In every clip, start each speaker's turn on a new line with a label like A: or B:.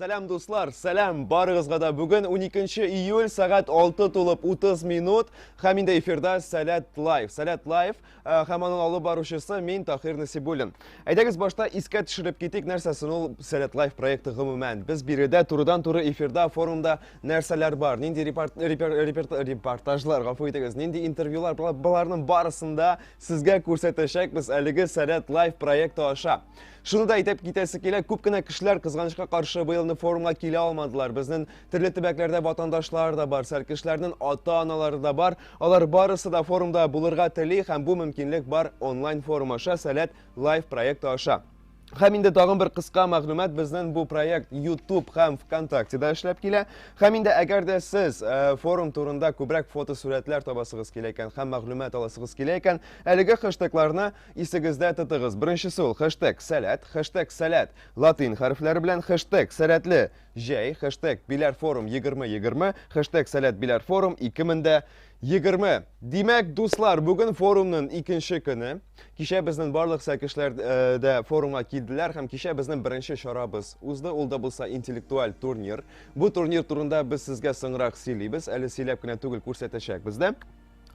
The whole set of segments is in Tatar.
A: Сәләм дуслар, сәләм барыгызга да. Бүген 12 июль сәгать 6 тулып 30 минут. Һәм инде эфирда Сәләт Лайф. Сәләт Лайф Ә, һәм аның алып баручысы мин Тахир Насибуллин. Әйдәгез башта искә төшереп китик, нәрсәсен ул Сәләт Лайф проекты гомумән. Без биредә турыдан туры эфирда, форумда нәрсәләр бар, нинди репорт, репер, репер, репортажлар, гафу итегез, нинди интервьюлар, боларның барысында сезгә күрсәтәчәкбез әлеге Сәләт Лайф проекты аша. Шуны да әйтеп китәсе килә, күп кенә кешеләр кызганычка каршы быелны форумга килә алмадылар. Безнең Төрле төбәкләрдә ватандашлар да бар, сәркешләрнең ата-аналары да бар. Алар барысы да форумда булырга тели һәм бу мөмкинлек бар онлайн форум аша Сәләт лайф проекты аша. Һәм инде тагын бер кыска мәгълүмат безнең бу проект YouTube һәм ВКонтакте да эшләп килә. Һәм инде әгәр дә сез э, форум турында күбрәк фотосурәтләр табасыгыз килә икән һәм мәгълүмат аласыгыз килә икән, әлеге хэштегларны исегездә тотыгыз. Беренчесе ул хэштег сәләт, хэштег сәләт латин хәрефләре белән, хэштег сәләтле Җәй, хэштег Биләрфорум 2020, хэштег Сәләт Биләрфорум 2020. Димәк, дуслар, бүген форумның икенче көне. Кичә безнең барлык сәкешләр э, дә форумга килделәр һәм кичә безнең беренче чарабыз узды. Ул да булса интеллектуаль турнир. Бу турнир турында без сезгә соңрак сөйлибез. Әле сөйләп кенә түгел күрсәтәчәкбез дә.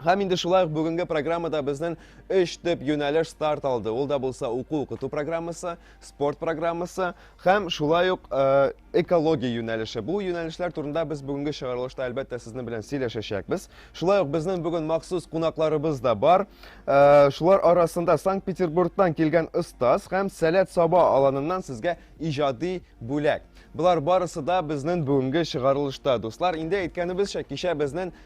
A: Һәм инде шулай ук бүгенге программада безнең өч төп юнәлеш старт алды. Ул да булса уку укыту программасы, спорт программасы һәм шулай ук э, экология юнәлеше. Бу юнәлешләр турында без бүгенге чыгарылышта әлбәттә сезнең белән сөйләшәчәкбез. Шулай ук безнең бүген махсус кунакларыбыз да бар. Э, шулар арасында Санкт-Петербургтан килгән остаз һәм Сәләт Саба аланыннан сезгә иҗади бүләк. Болар барысы да безнең бүгенге чыгарылышта. Дуслар, инде әйткәнебезчә, кичә безнең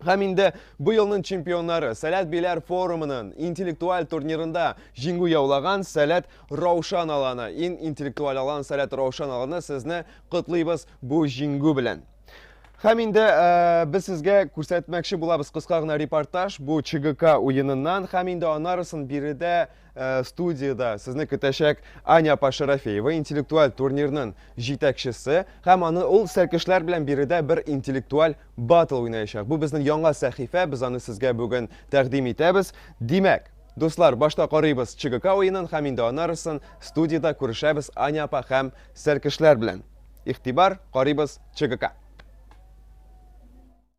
A: Һәм инде бу елның чемпионнары Сәләт Биләр форумының интеллектуаль турнирында җиңү яулаган Сәләт Раушан аланы. Ин интеллектуаль алан Сәләт Раушан аланы сезне котлыйбыз бу җиңү белән. Һәм инде э, без сезгә күрсәтмәкче булабыз кыска гына репортаж бу ЧГК уеныннан һәм инде анарысын биредә Э, студияда сезне көтәчәк Аня апа Шарафеева, интеллектуаль турнирның җитәкчесе, һәм аны ул сәркешләр белән биредә бер интеллектуаль батл уйнаячак. Бу безнең яңа сәхифә, без аны сезгә бүген тәкъдим итәбез. Димәк, дуслар, башта карыйбыз ЧГК уенын һәм инде анарысын студияда күрешәбез Аня апа һәм сәркешләр белән. Игътибар, карыйбыз ЧГК.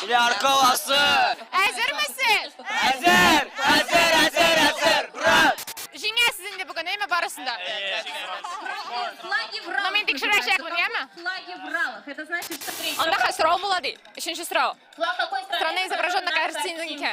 B: Миллиард
C: коласы! Әзермесез?
B: Әзер! Әзер,
C: әзер, әзер! Брат! Җиңәсез инде
B: бүген, әйме барысын да? Ну, мин тикшерәчәкмен, яме?
D: Анда хәл сорау була ди.
B: Өченче сорау. Страна
D: изображена на
B: картинке.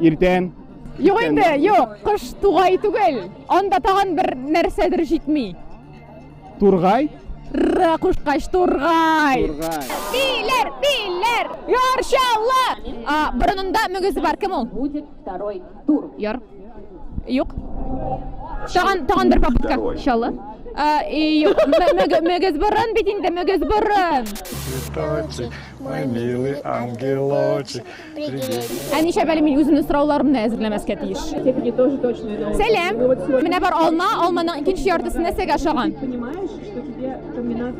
B: Иртән.
E: Юк
B: инде, юк, кыш тугай түгел. Анда тагын бер нәрсәдер җитми.
E: Тургай? Ра
B: кушкач тургай. Тургай.
E: Билер, билер.
B: Яршалла. А борынында мөгез бар кем ул? Будет
D: второй тур. Яр.
B: Юк. Тагын тагын бер попытка. Шалла. А, и юк. Мөгез борын бит инде, мөгез борын.
F: Мой милый ангелочек.
B: Ә ничәп әле мин үземнең сорауларымны әзерләмәскә тиеш? Сәлам! Менә бар алма, алманың икенче яртысы нәрсәгә ошаган?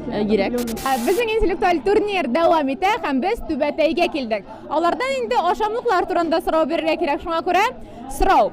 B: Э, Гирәк. Ә безнең интеллектуаль турнир дәвам итә һәм без Түбәтәйгә килдек. Алардан инде ашамлыклар турында сорау бирергә кирәк, шуңа күрә сорау.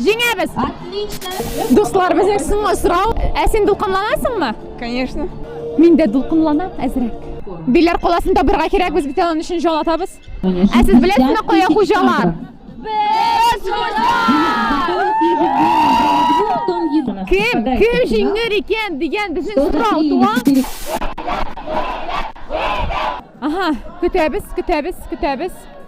B: Җиңәбез!
D: Дуслар, безнең соңгы
B: сорау. Ә син дулкынланасыңмы? Конечно.
G: Мин дә
B: дулкынланам әзрәк. Биләр каласын табырга кирәк, без бит аның өчен җал атабыз. Ә сез беләсезме кая хуҗалар? Без хуҗалар! Кем, кем җиңер икән дигән безнең сорау туа. Ага, көтәбез, көтәбез, көтәбез.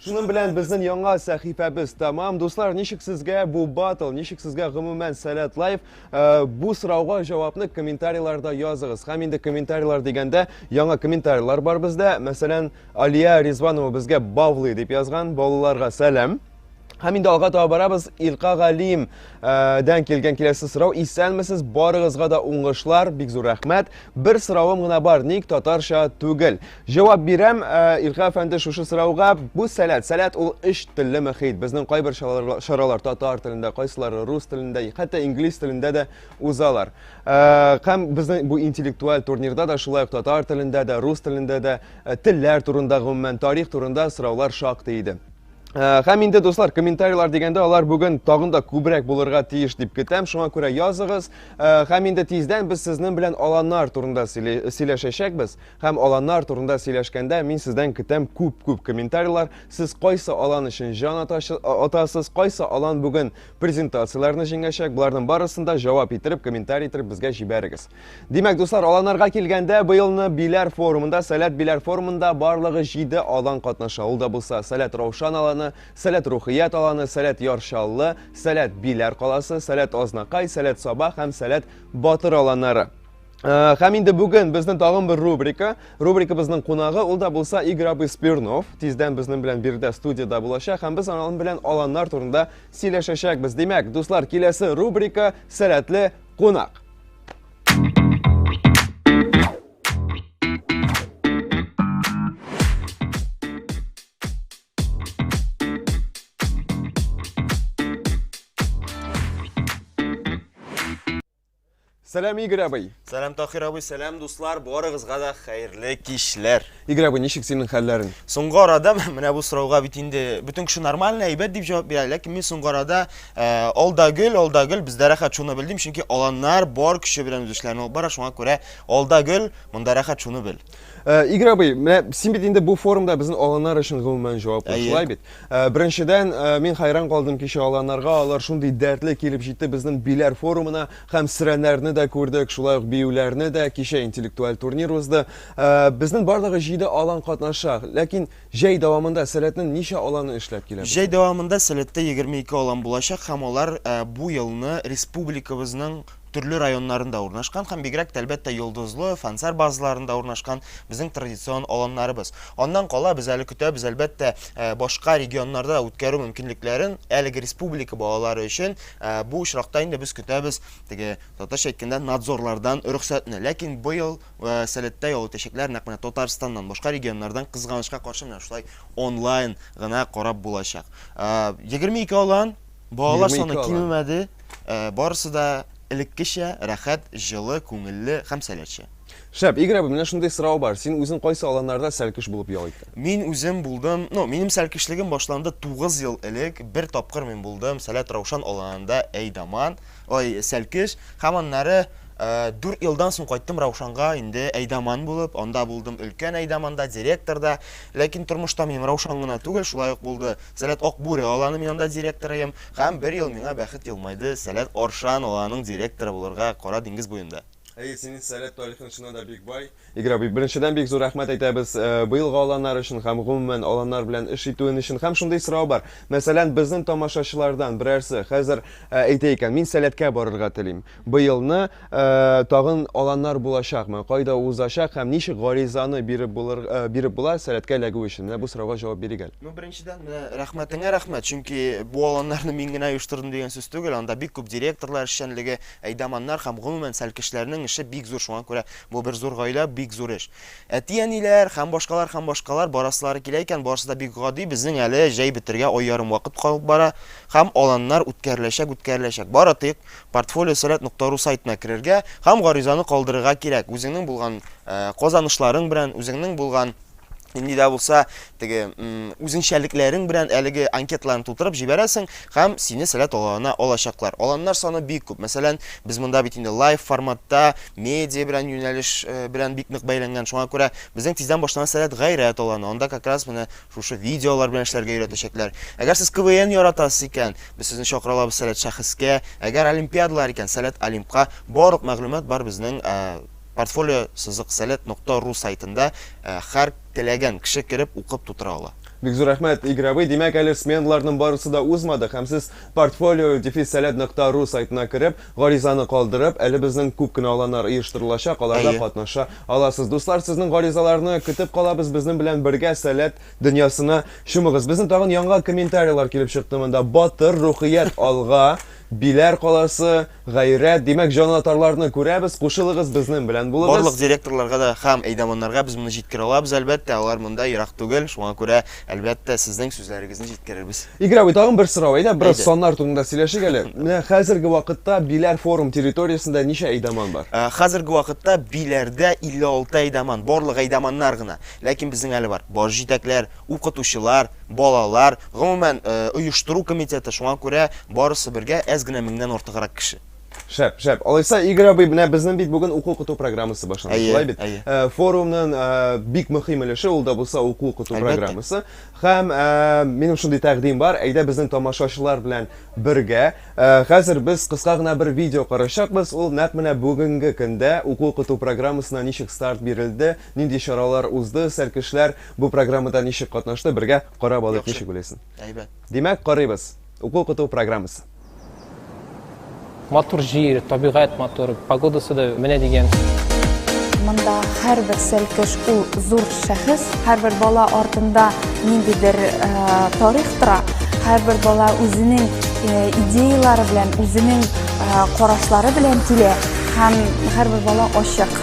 A: Шуның белән безнең яңа сәхифәбез тәмам. Дуслар, ничек сезгә бу батл, ничек сезгә гомумән Сәләт Лайф? Э, бу сорауга җавапны комментарийларда языгыз. Һәм инде комментарийлар дигәндә яңа комментарийлар бар бездә. Мәсәлән, Алия Ризванова безгә бавлый дип язган. Баулыларга сәлам. Һәм инде алга таба барабыз. Илка Галим э, дән килгән киләсе сорау. Исәнмесез, барыгызга да уңышлар, бик зур рәхмәт. Бер соравым гына бар, ник татарча түгел? Җавап бирәм, э, Илкә әфәнде, шушы сорауга. Бу сәләт, сәләт ул өч телле мөхит. Безнең кайбер чаралар татар телендә, кайсылары рус телендә, хәтта инглиз телендә дә узалар. Э, һәм безнең бу интеллектуаль турнирда да шулай ук татар телендә дә, рус телендә дә, э, телләр турында, гомумән тарих турында сораулар шактый иде. Һәм инде, дуслар, комментарийлар дигәндә, алар бүген тагын да күбрәк булырга тиеш дип көтәм. Шуңа күрә языгыз. Һәм инде тиздән без сезнең белән аланнар турында сөйләшәчәкбез. Һәм аланнар турында сөйләшкәндә, мин сездән көтәм күп-күп комментарийлар, сез кайсы алан өчен җан атачы, а, атасыз, кайсы алан бүген презентацияләрне җиңәчәк, боларның барысын да җавап иттереп, комментарий иттереп безгә җибәрегез. Димәк, дуслар, аланнарга килгәндә, быелны Биләр форумында, Сәләт Биләр форумында барлыгы җиде алан катнаша, ул да булса, Сәләт Раушан аланы, Сәләт Рухият аланы, Сәләт Яр Чаллы, Сәләт Биләр каласы, Сәләт Азнакай, Сәләт Саба һәм Сәләт Батыр аланнары. Э, һәм инде бүген безнең тагын бер рубрика. Рубрикабызның кунагы ул да булса Игорь абый Спирнов. Тиздән безнең белән бирдә студияда булачак һәм без аның белән аланнар турында сөйләшәчәкбез. Димәк, дуслар, киләсе рубрика Сәләтле кунак. Сәлам, Игорь абый! Сәлам, Тахир абый,
C: сәлам, дуслар, барыгызга да хәерле кичләр. Игорь абый, ничек синең
A: хәлләрең? Соңгы арада
C: менә бу сорауга бит инде бөтен кеше нормально, әйбәт дип җавап бирә, ләкин мин соңгы арада э, алда гөл, алда гөл, бездә рәхәт шуны белдем, чөнки аланнар бар көче белән үз эшләрен алып бара, шуңа күрә алда гөл, монда рәхәт шуны бел. Э, Игорь абый,
A: менә син бит инде бу форумда безнең аланнар өчен гомумән җаваплы, шулай бит? Э, беренчедән, э, мин хайран калдым кичә аланнарга, алар шундый дәртле килеп җитте безнең биләр форумына, һәм срәннәрне дә күрдек, шулай ук биюләрне дә, кичә интеллектуаль турнир узды. Безнең бардагы 7 алан катнаша, ләкин җәй дәвамында сәләтнең ничә аланы эшләп килә? Җәй дәвамында сәләттә
C: 22 алан булачак һәм алар бу елны республикабызның төрле районнарында урнашкан һәм бигрәк тә, әлбәттә, Йолдызлы, Фансар базаларында урнашкан безнең традицион аланнарыбыз. Аннан кала, без әле көтәбез, әлбәттә, э, башка регионнарда үткәрү мөмкинлекләрен, әлеге республика балалары өчен э, бу очракта инде без көтәбез теге татарча әйткәндә надзорлардан рөхсәтне. Ләкин быел э, сәләттә ял итәчәкләр нәкъ менә Татарстаннан, башка регионнардан кызганычка каршы менә шулай онлайн гына карап булачак. Э, 22 алан Балалар саны кимемәде, э, барысы да элеккечә рәхәт, җылы, күңелле һәм сәләтчә.
A: Шәп, Игорь абый, менә шундый сорау бар. Син үзең кайсы аланнарда сәлкеш булып ял иттең? Мин үзем булдым,
C: ну, минем сәлкешлегем башланды 9 ел элек. Бер тапкыр мин булдым Сәләт Раушан аланында Әйдаман, ой, сәлкеш. Һәм аннары 4 э, елдан соң кайттым Раушанга инде Әйдаман булып, анда булдым өлкән Әйдаманда, директорда. Ләкин тормышта минем Раушан гына түгел, шулай ук булды. Сәләт Ак Бүре аланы мин анда директорыем. Һәм бер ел миңа бәхет елмайды, Сәләт Аршан аланың директоры булырга, Кара диңгез буенда. Әйе, синең Сәләт
A: тарихың чыннан да бик бай. Игорь абый, беренчедән бик зур рәхмәт әйтәбез быелгы аланнар өчен һәм гомумән аланнар белән эш итүен өчен. Һәм шундый сорау бар, мәсәлән, безнең тамашачылардан берәрсе хәзер әйтә икән, мин Сәләткә барырга телим. Быелны тагын аланнар булачакмы, кайда узачак һәм ничек гаризаны биреп булыр, биреп була сәләткә эләгү өчен? Менә бу сорауга җавап бирик әле. Ну, беренчедән, менә
C: рәхмәтеңә рәхмәт, чөнки бу аланнарны мин генә оештырдым дигән сүз түгел, анда бик күп директорлар эшчәнлеге, әйдаманнар һәм гомумән сәлкешләрнең эше бик зур, шуңа күрә бу бер зур гаилә, бик зур эш. Әти-әниләр һәм башкалар һәм башкалар барасылары килә икән, барысы да бик гади, безнең әле җәй бетәргә ай ярым вакыт калып бара һәм аланнар үткәреләчәк, үткәреләчәк. Бары тик Портфолио сәләт нокта ру сайтына керергә һәм гаризаны калдырырга кирәк. Үзеңнең булган казанышларың белән, үзеңнең булган нинди дә булса теге үзенчәлекләрең белән әлеге анкеталарны тутырып җибәрәсең һәм сине сәләт аланына алачаклар. Аланнар саны бик күп. Мәсәлән, без монда бит инде лайв форматта, медиа белән юнәлеш белән бик нык бәйләнгән. Шуңа күрә безнең тиздән башланган сәләт гайрәт аланы. Анда как раз менә Шушы видеолар белән эшләргә өйрәтәчәкләр. Әгәр сез КВН яратасыз икән, без сезне чакыра алабыз Сәләт шәхескә. Әгәр олимпиадалар икән, Сәләт Олимпка. Барлык мәгълүмат бар безнең Портфолио сызык сәләт нокта ру сайтында. Хәр теләгән кеше кереп укып тутыра ала. Бик зур рәхмәт,
A: Игровый! Димәк, әле сменаларның барысы да узмадык һәм сез Портфолио дефис сәләт нокта ру сайтына кереп, Гаризаны калдырып, әле безнең күп кенә аланнар оештырылачак, аларда Әйе. катнаша аласыз. Дуслар, сезнең гаризаларны көтеп калабыз, безнең белән бергә сәләт дөньясына чумыгыз. Безнең тагын яңа комментариялар килеп чыкты монда. Батыр, рухият, алга, Биләр каласы, гайрәт, димәк, җанатарларны күрәбез, кушылыгыз, безнең белән булыгыз. Барлык директорларга да
C: һәм әйдаманнарга без моны җиткерә алабыз, әлбәттә, алар монда ерак түгел, шуңа күрә Әлбәттә, сезнең сүзләрегезне җиткерербез. Игорь абый, тагын бер сорау.
A: Әйдә, бераз Әйдә. саннар турында сөйләшик әле. Менә хәзерге вакытта Биләр форум территориясендә ничә әйдаман бар? Ә, Хәзерге вакытта
C: Биләрдә 56 әйдаман, барлык әйдаманнар гына. Ләкин безнең әле бар баш җитәкләр, укытучылар, балалар, гомумән, э, оештыру комитеты, шуңа күрә барысы бергә әз генә меңнән артыграк кеше. Шәп, шәп. Алайса,
A: Игорь абый, менә безнең бит бүген уку укыту программасы башланды, әйе, шулай бит? Әйе. Э, форумның э, бик мөһим өлеше ул да булса уку укыту программасы. Һәм э, минем шундый тәкъдим бар, әйдә безнең тамашачылар белән бергә. Хәзер без кыска гына бер видео карашакбыз. Ул нәкъ менә бүгенге көндә уку укыту программасына ничек старт бирелде, нинди чаралар узды, сәркешләр бу программада ничек катнашты, бергә карап алыйк, ничек белесең. Әйбәт. Димәк, карыйбыз. Уку укыту программасы.
H: Матур җир, табигать матур, погодасы да менә дигән. Монда
I: һәрбер сәлкеш ул зур шәхес, һәрбер бала артында ниндидер э, тарих тора, һәрбер бала үзенең э, идеялары белән, үзенең э, карашлары белән килә һәм һәрбер бала ачык.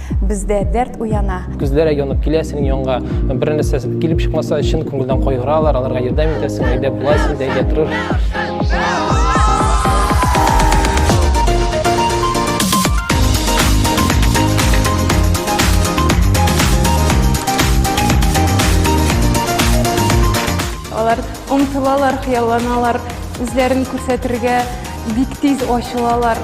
I: Бездә дәрт уяна. Күзләре янып килә
H: синең янга. Бер нәрсә килеп чыкмаса, чын күңелдән кайгыралар, аларга ярдәм итәсең, әйдә болай син дә әйдә тырыш.
G: Алар омтылалар, хыялланалар, үзләрен күрсәтергә. Бик тиз ачылалар.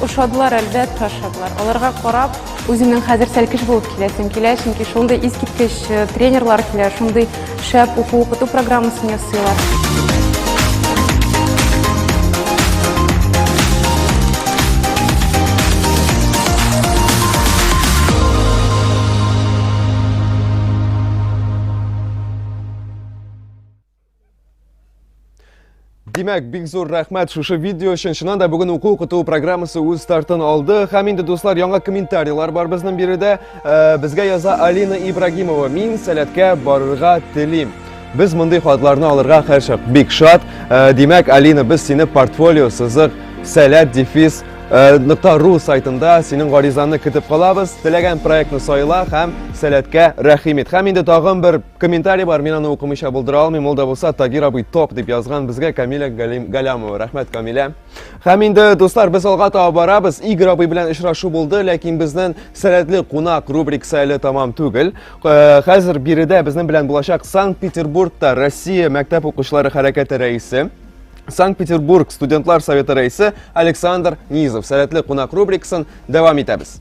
G: Ошадылар, әлбәттә, ошадылар. Аларга карап, үзеңнең хәзер сәлкеш булып киләсең килә, чөнки шундый искиткеч э, тренерлар килә, шундый шәп уку укыту программасын ясыйлар.
A: Димәк, бик зур рәхмәт шушы видео өчен. Чыннан да бүген уку укыту программасы үз стартын алды. Һәм инде дуслар, яңа комментарийлар бар безнең биредә. Э, безгә яза Алина Ибрагимова. Мин сәләткә барырга телим. Без мондый хатларны алырга һәрчак бик шат. Э, димәк, Алина, без сине портфолио сызык сәләт дефис э, нокта ру сайтында синең гаризаны көтеп калабыз. Теләгән проектны сайла һәм сәләткә рәхим ит. Һәм инде тагын бер Комментарий бар, мин аны укымыйча булдыра алмыйм, ул да булса Тагир абый ток дип язган безгә Камиля Галямова. Рәхмәт Камиля. Һәм инде дуслар, без алга таба барабыз. Игорь абый белән очрашу булды, ләкин безнең сәләтле кунак рубрик әле тамам түгел. Э, хәзер биредә безнең белән булачак Санкт-Петербургта Россия мәктәп укучылары хәрәкәте рәисе Санкт-Петербург студентлар советы рәисе Александр Низов. Сәләтле кунак рубрикасын дәвам итәбез.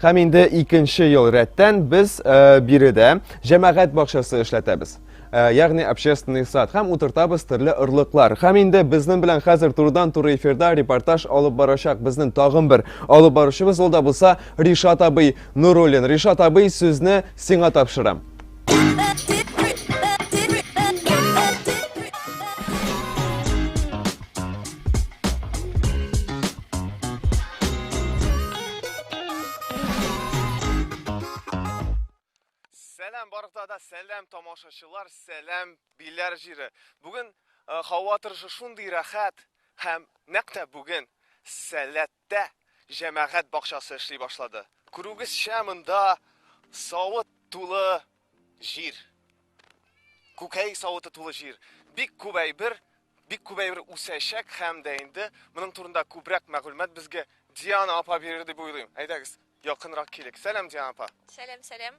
A: Һәм инде икенче ел рәттән без э, биредә җәмәгать бакчасы эшләтәбез. Э, ягъни общественный сад һәм утыртабыз төрле орлыклар. Һәм инде безнең белән хәзер турыдан туры эфирда репортаж алып барачак безнең тагын бер алып баручыбыз ул да булса Ришат абый Нуруллин. Ришат абый сүзне сиңа тапшырам. Сәләм барлыкта да сәләм тамашачылар, сәләм биләр җире. Бүген һава торышы шундый рәхәт һәм нәкъ тә бүген сәләт Мәктәптә җәмәгать бакчасы эшли башлады. Күрүегезчә, монда савыт тулы җир. Күкәй савыты тулы җир. Бик күп әйбер, бик күп әйбер үсәчәк һәм дә инде моның турында күбрәк мәгълүмат безгә Диана апа бирер дип уйлыйм. Әйдәгез, якынрак килик. Сәлам, Диана апа. Сәлам, сәлам.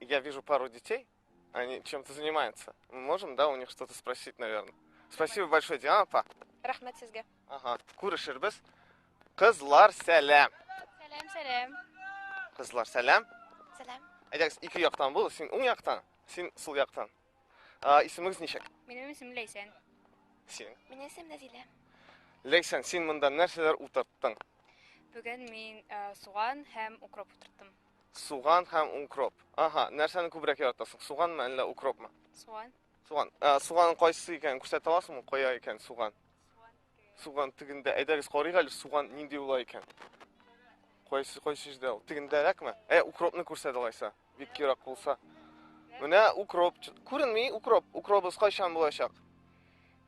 A: Я вижу пару детей, они чем-то занимаются. Мы можем, да, у них что-то спросить, наверное. Спасибо большое, Диана, па. Рахмет сезге.
J: Ага, күрешербез.
A: Кызлар, сәлам. Сәлам, сәлам.
K: Кызлар,
A: сәлам. Сәлам.
K: Әйдәгез, ике яктан
A: бул, син уң яктан, син сул яктан. А, исемегез ничек? Минем исемем Ләйсән.
K: Син.
A: Минем исемем Нәзилә.
K: Ләйсән,
A: син монда нәрсәләр утырттың? Бүген
K: мин суган һәм укроп утырттым. Суган һәм
A: укроп. Аһа, нәрсәне күбрәк яратасың? Суганмы, әллә укропмы? Суган. Суган.
K: Ә, суганның
A: кайсы икәнен күрсәтә аласыңмы? Кая икән суган? Суган тегендә. Әйдәгез карыйк әле суган нинди була икән. Кайсы кайсы җирдә ул? Тегендәрәкме? Ә укропны күрсәт алайса. Бик ерак булса. Менә укроп. Күренми укроп. Укробыз кайчан булачак?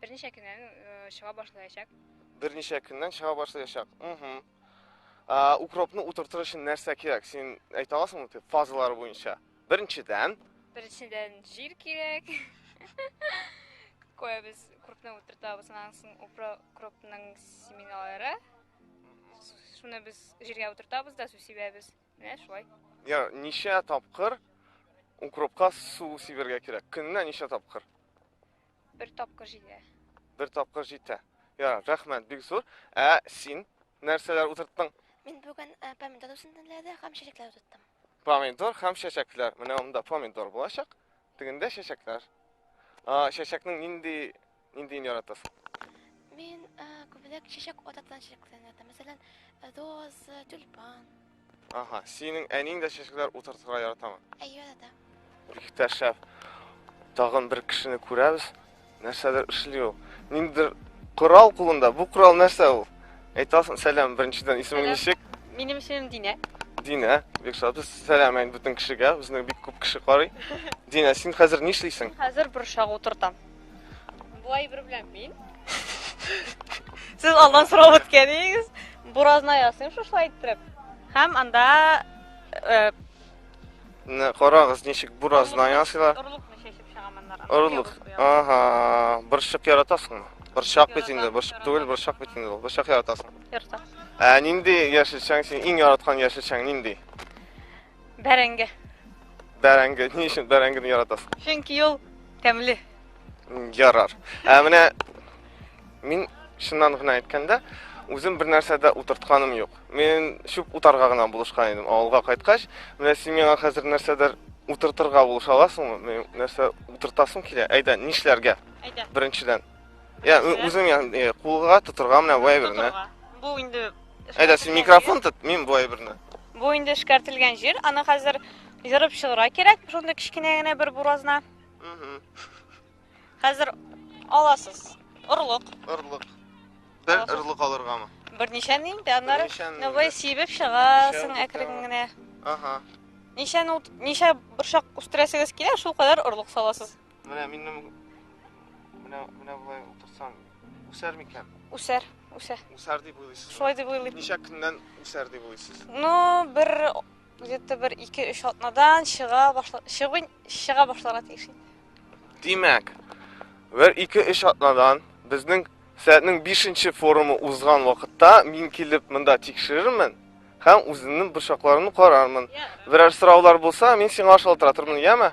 A: Берничә
K: көннән э, чыга башлаячак. Берничә көннән
A: чыга башлаячак. Угу. Ә, укропны утыртыр өчен нәрсә кирәк? Син әйтә аласыңмы дип фазалары буенча? Беренчедән, Беренчедән
K: җир кирәк. Кое без укропны утыртабыз, аннан соң укро- укропның семеналары. С- Шуны без җиргә утыртабыз да су сибәбез. Менә шулай. я, ничә
A: тапкыр укропка
K: су
A: сибергә кирәк? Көненә ничә тапкыр? Бер
K: тапкыр җитә.
A: Бер тапкыр җитә. Ярар, рәхмәт, бик зур. Ә син нәрсәләр утырттың? Мин бүген э,
L: помидор үсентеләре һәм чәчәкләр утырттым. Помидор һәм
A: чәчәкләр. Менә монда помидор булачак, тегендә чәчәкләр. А, чәчәкнең нинди ниндиен яратасың? Мин
L: э, күбрәк чәчәк ататкан чәчәкләрне яратам. Мәсәлән, роз, тюльпан. Ага,
A: синең әниң дә чәчәкләр утыртырга яратамы? Әйе, да.
L: Бик тә
A: шәп. Тагын бер кешене күрәбез. Нәрсәдер эшли ул. Ниндидер корал кулында. Бу корал нәрсә ул? Әйтәсең, сәлам, беренчедән исемең ничек? Минем исемем Динә.
M: Динә, бик
A: шат. Без сәлам әйт бөтен кешегә. Безне бик күп кеше карый. Динә, син хәзер нишлисең? Хәзер борчак
M: утыртам. Бу әйбер белән мин. Сез алдан сорап үткән идегез. Буразна ясыйм шушлай иттереп. Һәм анда э, Менә
A: карагыз, ничек буразна ясыйлар. орлыкны чәчеп чыгам
M: аннан. Орлык.
A: Ага, борчак яратасыңмы? Борчак бит инде, борчак түгел, борчак бит инде ул. Борчак яратасың. Ярта. Ә
M: нинди
A: яшелчәң син иң яраткан яшелчәң нинди?
M: Бәрәңге.
A: Бәрәңге. Ни өчен бәрәңгене яратасың? Чөнки ул
M: тәмле. Ярар.
A: Ә менә мин чыннан гына әйткәндә, үзем бер нәрсәдә утыртканым юк. Мин чүп утарга гына булышкан идем. Авылга кайткач, менә син миңа хәзер нәрсәдер утыртырга булыша аласыңмы? Мин нәрсә утыртасым килә. Әйдә, нишләргә? Әйдә. Беренчедән. Я, үзең яны кулга тотырга менә бу әйберне. Бу инде
M: Әйдә, син микрофон
A: тот, мин бу әйберне. Бу инде
M: эшкәртелгән җир, аны хәзер җырып чыгыра кирәк, шундый кечкенә генә бер буразна. Хәзер аласыз. Орлык. Орлык.
A: Бер орлык алыргамы? Берничә ни инде,
M: аннары новый сибеп чыгасың әкрен генә. Ага.
A: Ничә
M: ничә борчак үстерәсегез килә, шул кадәр орлык саласыз. Менә минем
A: менә менә болай утырсам үсәр микән? Үсәр,
M: үсә. Үсәр дип
A: уйлыйсыз. Шулай дип уйлыйм. Ничә
M: көннән үсәр
A: дип уйлыйсыз? Ну, бер
M: где-то бер 2-3 атнадан чыга башла чыгын чыга башларга тиеш. Димәк,
A: бер 2-3 атнадан безнең сәгатьнең 5-нче форумы узган вакытта мин килеп монда тикшерермен һәм үземнең борчакларымны карармын. Берәр сораулар булса, мин сиңа шалтыратырмын, яме?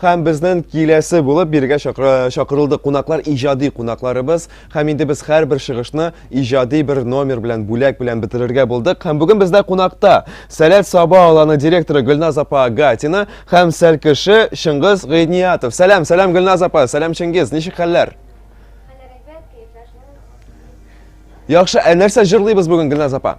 A: Һәм безнен киләсе булып биргә чакырылды кунаклар иҗади кунакларыбыз. Һәм инде без һәрбер чыгышны иҗади бер номер белән, бүләк белән бетерергә булдык. Һәм бүген бездә кунакта Сәләт Саба аланы директоры Гөлназ апа Гатина һәм сәлкеше Чыңгыз Гыйниятов. Сәлам, сәлам Гөлназ апа, сәлам Чыңгыз, ничек хәлләр? Яхшы, ә нәрсә җырлыйбыз бүген Гөлназ апа?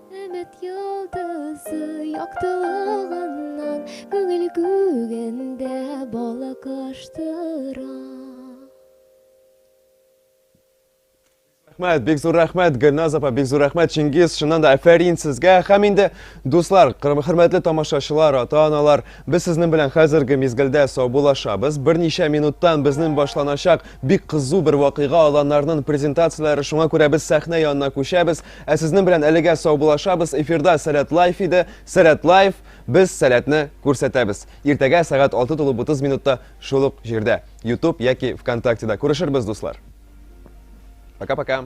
N: Өмет йолдызы яктылыгыннан
A: Күңел күгендә балык аштыра. Рәхмәт, бик зур рәхмәт, Гөлназ апа, бик зур рәхмәт, Чингиз, шуннан да әфәрин сезгә. Хәм инде, дуслар, хөрмәтле тамашачылар, ата-аналар, без сезнең белән хәзерге мизгелдә саубулашабыз. Берничә минуттан безнең башланачак бик кызу бер вакыйга аланнарның презентацияләре, шуңа күрә без сәхнә янына күчәбез. Ә сезнең белән әлегә саубулашабыз. Эфирда Сәләт Лайф иде. Сәләт Лайф, без сәләтне күрсәтәбез. Иртәгә сәгать 6 тулып 30 минутта шул ук җирдә, YouTube яки ВКонтактеда. Күрешербез, дуслар. Пока-пока.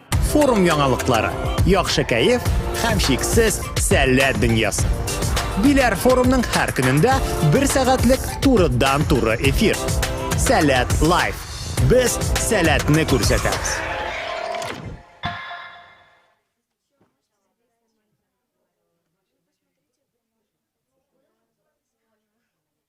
O: Форум яңалыклары, яхшы кәеф һәм шиксез сәләт дөньясы. Биләр форумның һәр көнендә бер сәгатьлек турыдан туры эфир. Сәләт лайф. Без сәләтне күрсәтәбез.